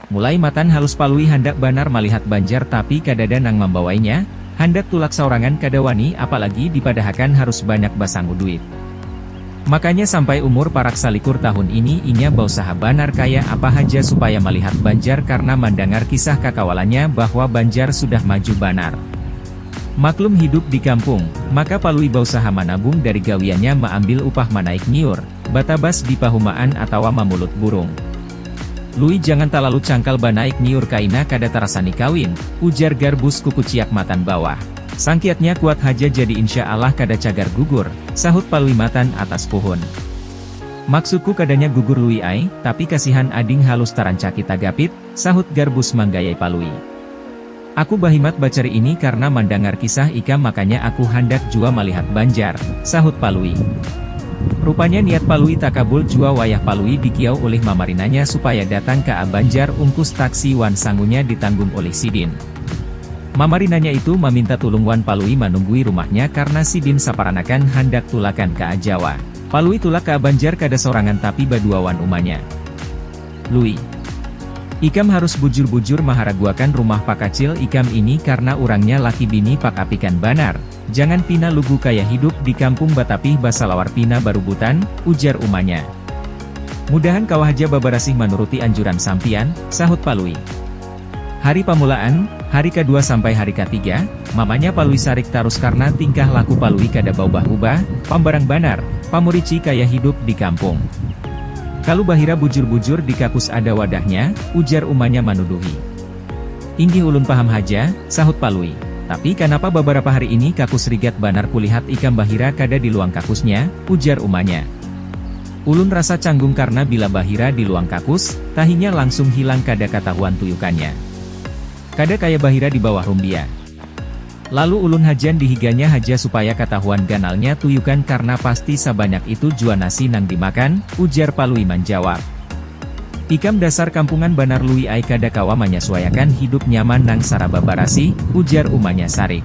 Mulai matan halus Palui handak banar malihat Banjar tapi kadada nang mambawainya, handak tulak saurangan kada wani apalagi dipadahakan harus banyak basangu duit. Makanya sampai umur parak salikur tahun ini inya bausaha banar kaya apa haja supaya malihat Banjar karna mandangar kisah kakawalannya bahwa Banjar sudah maju banar. Maklum hidup di kampung, maka Palui bausaha manabung dari gawiannya maambil upah manaik nyiur, batabas di pahumaan atawa mamulut burung. Lui jangan talalu cangkal banaik nyiur kaina kada tarasani kawin, ujar Garbus kukuciak matan bawah. Sangkiatnya kuat haja jadi insya alah kada cagar gugur, sahut Palui matan atas puhun. Maksudku kadanya gugur Lui ai, tapi kasihan ading halus tarancaki tagapit, sahut Garbus manggayai Palui. Aku bahimat bacari ini karna mandangar kisah ikam makanya aku handak jua malihat Banjar, sahut Palui. Rupanya niat Palui takabul jua wayah Palui dikiau ulih mamarinanya supaya datang ka a Banjar ungkus taksi wan sangunya ditanggung ulih sidin. Mamarinanya itu maminta tulung wan Palui manunggui rumahnya karna sidin saparanakan handak tulakan ka Jawa. Palui tulak ka Banjar kada sorangan tapi badua wan umanya. Lui. Ikam harus bujur-bujur maharaguakan rumah pakacil ikam ini karna urangnya laki bini pak apikan banar, jangan pina lugu kaya hidup di kampung batapih basalawar pina barubutan, ujar umanya. Mudahan kawa haja babarasih manuruti anjuran sampiyan, sahut Palui. Hari pamulaan, hari ka dua sampai hari ka tiga, mamanya Palui sarik tarus karna tingkah laku Palui kada baubah-ubah, pambarang banar, pamurici kaya hidup di kampung. Kalu bahira bujur-bujur di kakus ada wadahnya, ujar umanya manuduhi. Inggih ulun paham haja, sahut Palui. Tapi kanapa babarapa hari ini kakus rigat banar kulihat ikam bahira kada di luang kakusnya, ujar umanya. Ulun rasa canggung karna bila bahira di luang kakus, tahinya langsung hilang kada katahuan tuyukannya. Kada kaya bahira di bawah rumbia. Lalu ulun hajan di higanya haja supaya katahuan ganalnya tuyukan karna pasti sabanyak itu jua nasi nang dimakan, ujar Palui manjawab. Ikam dasar kampungan banar Lui ai kada kawa manyasuaiakan hidup nyaman nang saraba barasih, ujar umanya sarik.